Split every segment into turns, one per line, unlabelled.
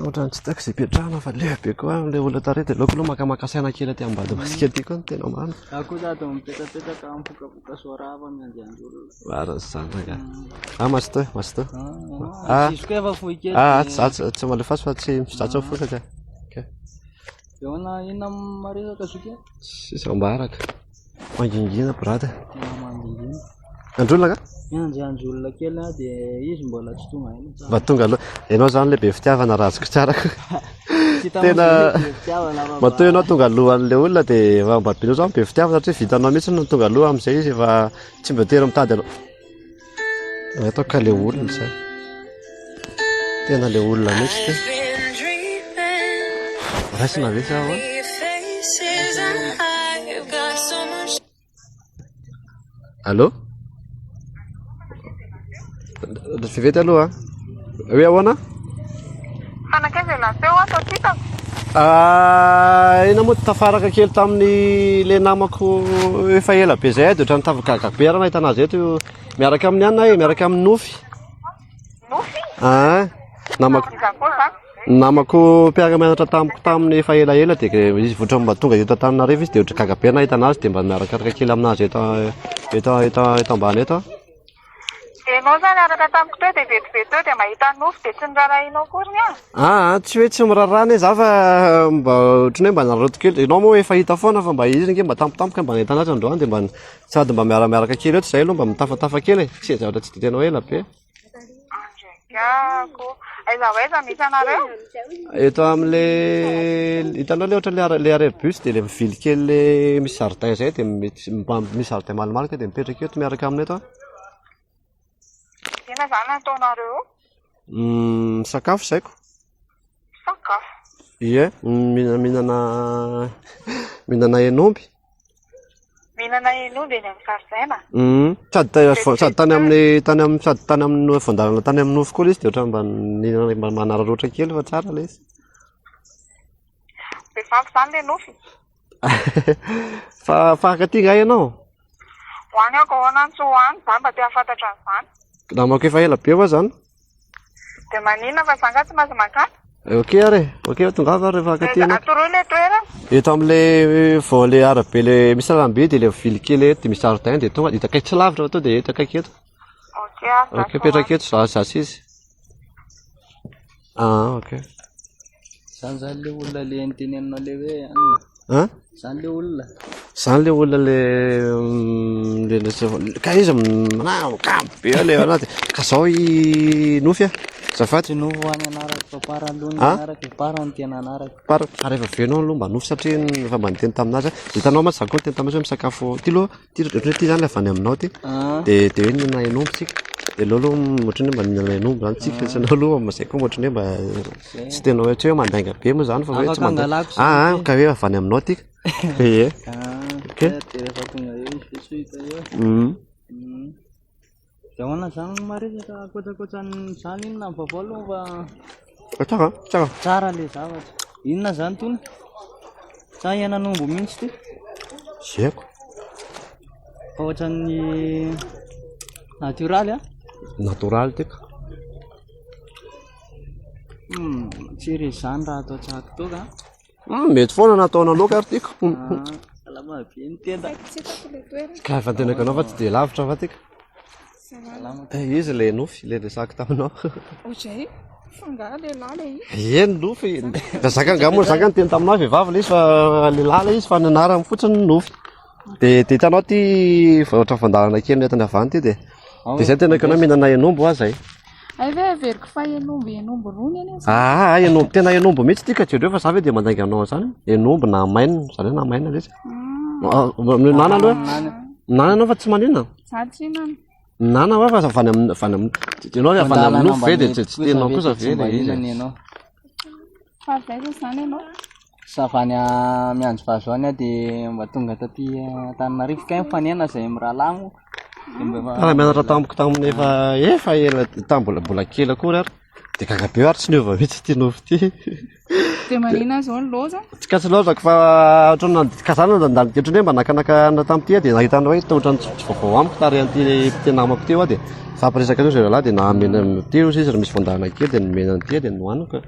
Ohatrany tsy tiako izay ipetrahana fa lehibe be koa ilay olona tary dia aleoko aloha makamaka saina kely aty ambadika masika aty koa no tena marina. Za koa za dia
mipetapetaka mipokapoka soarava miandiandy olona. Marina izany ranga.
Ah masto eh, masto. Ah, Diso koa
efa fohy kely. ah atsy atsy tsy malefaso
fa tsy za tsy mifosa ka. Ka.
Eona inona maresaka zoky? Sisa ambaraka.
Mangingina brada. Mangingina. Androlona ka? Miandry
andry olona kely
aho dia izy
mbola tsy tonga aina. Mba tonga aloha.
Ianao zany ilay be fitiavana rajoko tsarako. Tena matoa ianao tonga alohan'ilay olona dia efa mba be loatra be fitiavana satria vitanao mihitsy no tonga aloha amin'izay izy efa tsy mba tery mitady anao. Natao ka le olona zany. Tena le olona mihitsy ty. Raisina ve sa ahoana? Allô? Vevety aloha. Hoe ahoana? Fa
nankaiza ialahy teo aho sao tsy hitako? Ah,
eny moa tafaraka kely tamin'ny le namako efa ela be zay de ohatran'ny tafagaga be raha nahita anazy eto miaraka amin'ny anona e, miaraka amin'ny nofy. Nofy?
Ah, namako.
Namako mpiara-mianatra tamiko tamin'ny efa ela ela de izy voatra mba tonga eto Antananarivo izy de ohatran'ny gaga be nahita anazy de mba miarakaraka kely aminazy eto eto eto eto ambany eto.
Enao zany araka tamiko teo dia vetivety teo dia mahita nofy dia tsy nirarahianao akory ny ahy? Aa tsy hoe tsy miraraha
anie za fa mba ohatran'ny hoe mba naraoty kely, enao moa efa hita foana fa mba izy ange mba tampotampoka mba nahita an'azy androany dia mba sady mba miaramiaraka kely eo tsy zay aloha mba mitafatafa kely e, tsy zavatra tsy dia tena hoe ela be. Gago.
Aiza ho aiza misy anareo? Eto
amle hitanao le ohatran'ny le arrêt bus dia le vily kely le misy jardin izay dia misy jardin malomaloka dia mipetraka eto miaraka amina eto. Inona izany
ataonareo? Hmm,
sakafo izaiko. Sakafo. Ie, minana minana henomby.
Mihinana hen'omby eny amin'ny zaridaina. Hum, sady tany Dia tsy
sady tany amin'ny tany amin'ny sady tany amin'ny no- voandalana tany amin'ny nofy koa ilay izy dia ohatran'ny mba nihinana mba manararaotra kely fa tsara ilay izy.
Be vandy izany ilay nofy. Fa
mpankaty angaha ianao? Ho any
aho, ka ahoana no tsy ho any? Izaho mba te hahafantatra an'izany. Namako efa ela
be moa izany.
Dia maninona fa za nga tsy maintsy mankany? Eh,
ok ary e, ok tongava ary rehefa akaty ianao. Atoroy le toerana.
Eto amle
vao le arabe le misy lalambe de le vily kely eto de misy jardin de tonga de eto akaiky tsy lavitra fa to de eto akaiky eto. Ok ah. Ok petraka eto za za sy izy. Ah ok.
Zany zany le olona le niteneninao le hoe. a zany le olona zany le olona
le mm, le le ka izy manao ka be le anaty ka zao i nofy a zafady no any anarako
fa para aloha ny anarako para ny tena anarako para ary efa venao aloha
mba nofy satria efa mba niteny taminazy hitanao ma zany koa niteny taminazy hoe misakafo ty loha Ty ohatran'ny hoe ty zany le avy any aminao ty Ah. de de hoe nihinana hen'omby tsika de aleo aloha m- ohatran'ny hoe mba nihinana hen'omby zany tsika fa tsy anao aloha mba zay koa mba ohatran'ny hoe mba tsy tena hoe tsy hoe mandainga be moa zany fa hoe Afaka tsy mandainga hangalako zany ah ah, ka hoe avy any aminao ty ee Ah, Ok. de
rehefa tonga eo izy de tsy ho hita eo. Mhm. Mhm. Dia ahoana izany no maresaka ankoatr'ankoatran'izany inona ny vaovao aloha fa Fa tsara an, tsara. tsara ilay zavatra. Inona izany tony? Sa henan'omby mihitsy ity? Tsy haiko. Fa ohatran'ny natioraly a? Natoraly ty
ka.
Hmm, tsy iry izany raha atao tsakitoka a. Hmm, mety foana
nataona loka ary tika. Salama
be ny tenda. Ka
efa tena kanao fa tsy dia lavitra fa tika. Eh, izy le nofy le resaka taminao. Ozay,
fangaha le lala i. Ie ny nofy. Da
zaka angamo zaka ny teny taminao vehivavy le izy fa le lala izy fa ny anarany fotsiny ny nofy. Dia dia hitanao ity vaotra fandalana kely ny entana avy any ity dia dia izay tena kanao mihinana henombo aza e. Ay ve averiko
fa henombo henombo rony anie zany. Ah, ah, henombo tena
henombo mihitsy ity ka jereo fa za ve dia mandainga anao an'izany. Henombo na maina, izany hoe na maina ve izy. Ah, Minana aloha. Minana ianao fa tsy maninona. Za tsy hinana. Minana va fa avy any amin'ny avy any amin'ny
ianao avy any
amin'ny nofo ve dia tsy tsy tianao kosa ve ilay izy.
Fa avy aiza zany ianao? Za avy any
Mianjombazo any aho dia mba tonga taty Antananarivo kay mifanena izay mirahalahy moa. Dia
mba efa- Raha mianatra tamiko
tamin'ny
efa efa ela tamin'ny mbola mbola
kely
akory ary dia gaga be ary tsy niova mihitsy ity nofo ity. Dia
manina izao ny loza? Tsy ka tsy laozako fa
ohatran'ny nandidy kazana nandalo dia ohatran'ny hoe mba nakanaka anona tamin'ity aho dia nahitana hoe tena ohatran'ny tsy tsy vaovao amiko tarehan'ity ity namako ity aho dia nifampiresaka teo izy roalahy dia nahamena teo izy izy raha misy fandaharana kely dia nomena an'ity aho dia nohaniko.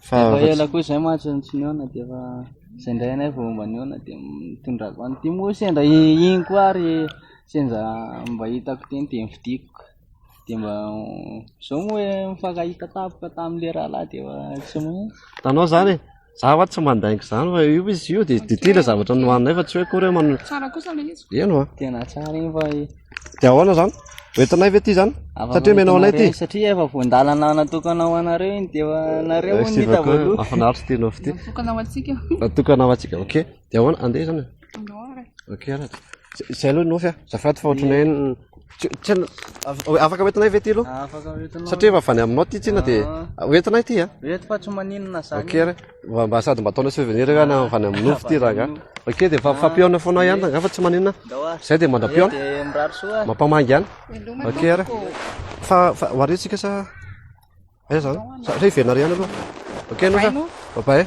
fa efa ela
koa izay mantsy no tsy nihaona dia efa izay indray anay vao mba nihaona dia mitondrako any dia moa sendra iny koa ary sendra mba hitako teny dia nividiako dia mba izao moa hoe mifankahita tampoka tamin'ilay rahalahy dia efa tsy moa tanao izany e
za va tsy mandaingo izany fa io izy io dia dia ty ilay zavatra nohaninay fa tsy hoe akory hoe man- Tsara kosa ilay izy.
eny wa Tena tsara
iny fa
Dia ahoana izany?
Hoentinay ve ity izany? Satria menao anay ity. Satria efa voan-dalana
natokana ho anareo iny dia anareo eh, ny hita voaloha. Mahafinaritra ity nofo ity.
Natokana ho antsika.
Natokana ho antsika. Ok.
Dia ahoana? Andeha izany. Ok
ara.
Izay aloha nofy ah. Zafady fa ohatranay Tsena, afaka hoentinay ve ity aloha? Afaka hoentinao. Satria efa
avy any aminao ity
tsena dia ah. hoentinay ity ah. Eto fa tsy maninona
zany. Ok ara. Mba mba
sady mba ataonao souvenir ka na avana amin'ny nofy ty raga. Ok dia fa fampihaona foana ihany raga fa tsy maninona. Zay dia mandra-pihaona.
Mampamangy ihany.
Ok ara. Fa fa hoaretsika sa eh zany. Sa re hiverina ary ihany aloha. Ok no sa. Bye bye.